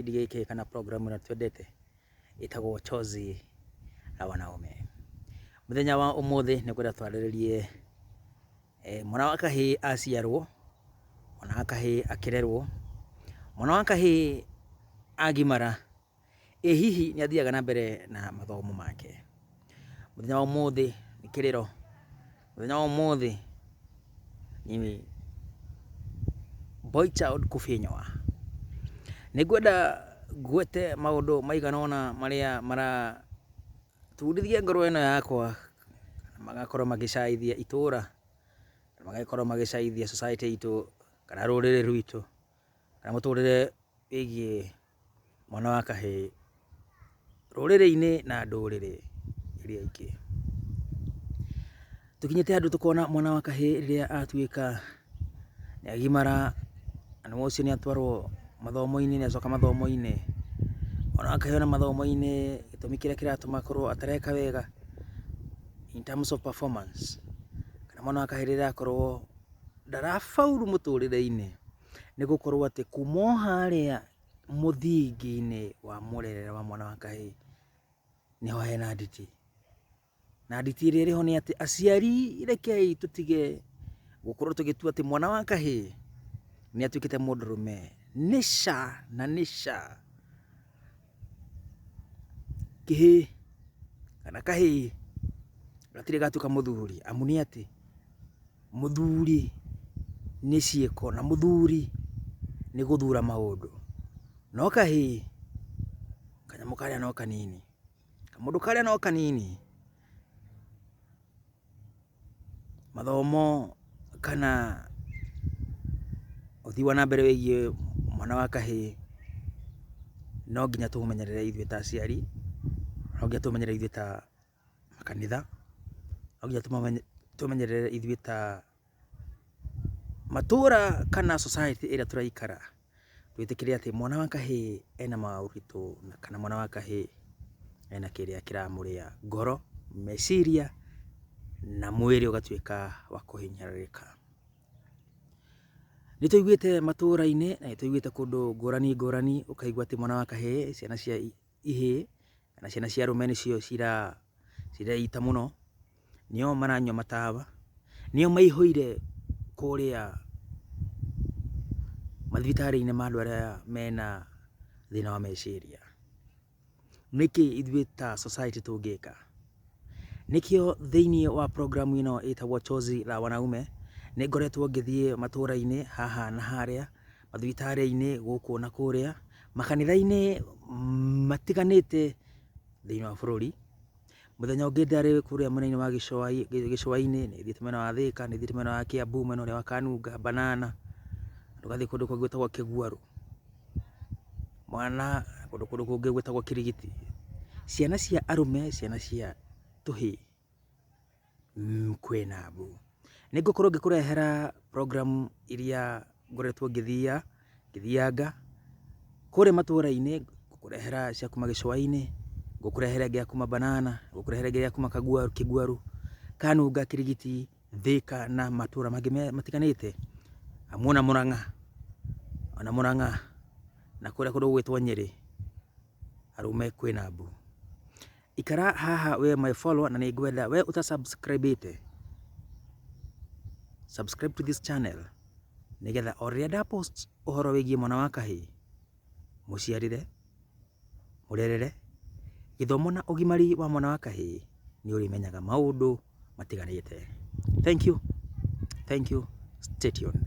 kĩbindi gĩkĩ kana program ĩno twendete ĩtagwo Chozi la Wanaume. Mũthenya wa ũmũthĩ nĩ kwenda twarĩrĩrie eh, mwana wa kahĩ aciarwo, mwana wa kahĩ akĩrerwo, mwana wa kahĩ agimara, ĩ hihi nĩ athiaga na mbere na mathomo make. Mũthenya wa ũmũthĩ nĩ kĩrĩro Mũthenya wa ũmũthĩ ni Boicha Odkufinyoa. Nĩ ngwenda ngwete maũndũ maigana ũna marĩa maraturithia ngoro ĩno yakwa, magakorwo magĩcaaithia itũũra, magakorwo magĩcaaithia society itũ, kana rũrĩrĩ rwitũ, kana mũtũrĩre wĩgiĩ Mwana wa kahĩĩ rũrĩrĩ-inĩ na ndũrĩrĩ iria ingĩ. Tũkinyĩte handũ tũkona mwana wa kahĩĩ rĩrĩa atuĩka nĩ agimara, na nĩ ũcio nĩ atwarwo mathomo-inĩ, nĩ acoka mathomo-inĩ. Mwana wa kahĩĩ ona mathomo-inĩ gĩtũmi kĩrĩa kĩratũma akorwo atareka wega in terms of performance, kana mwana wa kahĩĩ rĩrĩa akorwo ndarabauru mũtũrĩre-inĩ, Nĩ gũkorwo atĩ kuma o harĩa mũthingi-inĩ wa mũrerere wa mwana wa kahĩĩ nĩho hena nditi. Na nditi ĩrĩa ĩrĩho nĩ atĩ aciari rekei tũtige gũkorwo tũgĩtua atĩ mwana wa kahĩĩ nĩ atuĩkĩte mũndũrũme. Nĩ ca na nĩ ca Kĩhĩĩ kana kahĩĩ gatirĩ gatuĩka mũthuri amu nĩ atĩ mũthuri nĩ ciĩko na mũthuri nĩ gũthura maũndũ. No kahĩĩ kanyamũ karĩa no kanini, kamũndũ karĩa no kanini. Mathomo kana ũthii wa na mbere wĩgiĩ mwana wa kahĩĩ no nginya tũũmenyerere ithuĩ ta aciari, no nginya tũũmenyerere ithuĩ ta makanitha, no nginya tũũmenyerere ithuĩ ta matũũra kana society ĩrĩa tũraikara. twĩtĩkĩre atĩ mwana wa kahĩĩ ena maũritũ kana mwana wa kahĩĩ ena kĩrĩa kĩramũrĩa ngoro, meciria na mwĩrĩ ũgatuĩka wa kũhinyĩrĩrĩka. Nĩ tũiguĩte matũra-inĩ na nĩ tũiguĩte kũndũ ngũrani ngũrani ũkaigua atĩ mwana wa kahĩĩ ciana cia ihĩĩ, na ciana cia arũme nĩcio ciraita mũno, nĩo maranyua matawa, nĩo maihũire kũrĩa mathibitarĩ-inĩ ma andũ arĩa mena thĩna wa meciria. Nĩkĩ ithuĩ ta society tũngĩka? Nĩkĩo thĩinĩ wa program ĩno ĩtagwo Chozi la Wanaume, nĩ ngoretwo ngĩthiĩ matũũra-inĩ haha na harĩa, mathibitarĩ-inĩ gũkũ na kũrĩa, makanitha-inĩ matiganĩte thĩinĩ wa bũrũri. Mũthenya ũngĩ ndarĩ kũrĩa mwena-inĩ wa gĩcũa-inĩ, nĩ thiĩte mwena wa Thĩka, nĩ thiĩte mwena wa Kiambu, mwena ũrĩa wa Kanunga, Banana, tũgathiĩ kũndũ kũngĩ gwĩtagwo Kĩguarũ. Mwana, kũndũ kũrĩa kũngĩ gwĩtagwo kirigiti. Ciana cia arũme, ciana cia tũhĩĩ, kwĩna mbu. Nĩ ngũkorwo ngĩkũrehera program iria ngoretwo ngĩthiia, ngĩthianga, kũrĩa matũũra-inĩ, ngũkũrehera cia kuuma gĩcũa-inĩ, ngũkũrehera ĩngĩ ya kuuma Banana, ngũkũrehera ĩngĩ ya kuuma Kagwaru, Kĩgwaru, Kanunga, Kirigiti. Thĩka na matũra mangĩ matiganĩte, hamwe na Mũrang'a, ona Mũrang'a na kũrĩa kũndũ gũgwĩtwo Nyĩrĩ, arũme kwĩ na mbu. Ikara haha we my follower na nĩngwenda we ũta subscribe ĩte, subscribe to this channel nĩgetha o rĩrĩa nda post ũhoro wĩgiĩ mwana wa kahĩĩ, mũciarĩre. mũrerere, gĩthomo na ũgimari wa mwana wa kahĩĩ nĩ ũrĩmenyaga maũndũ matiganĩte. Thank you, thank you, stay tuned.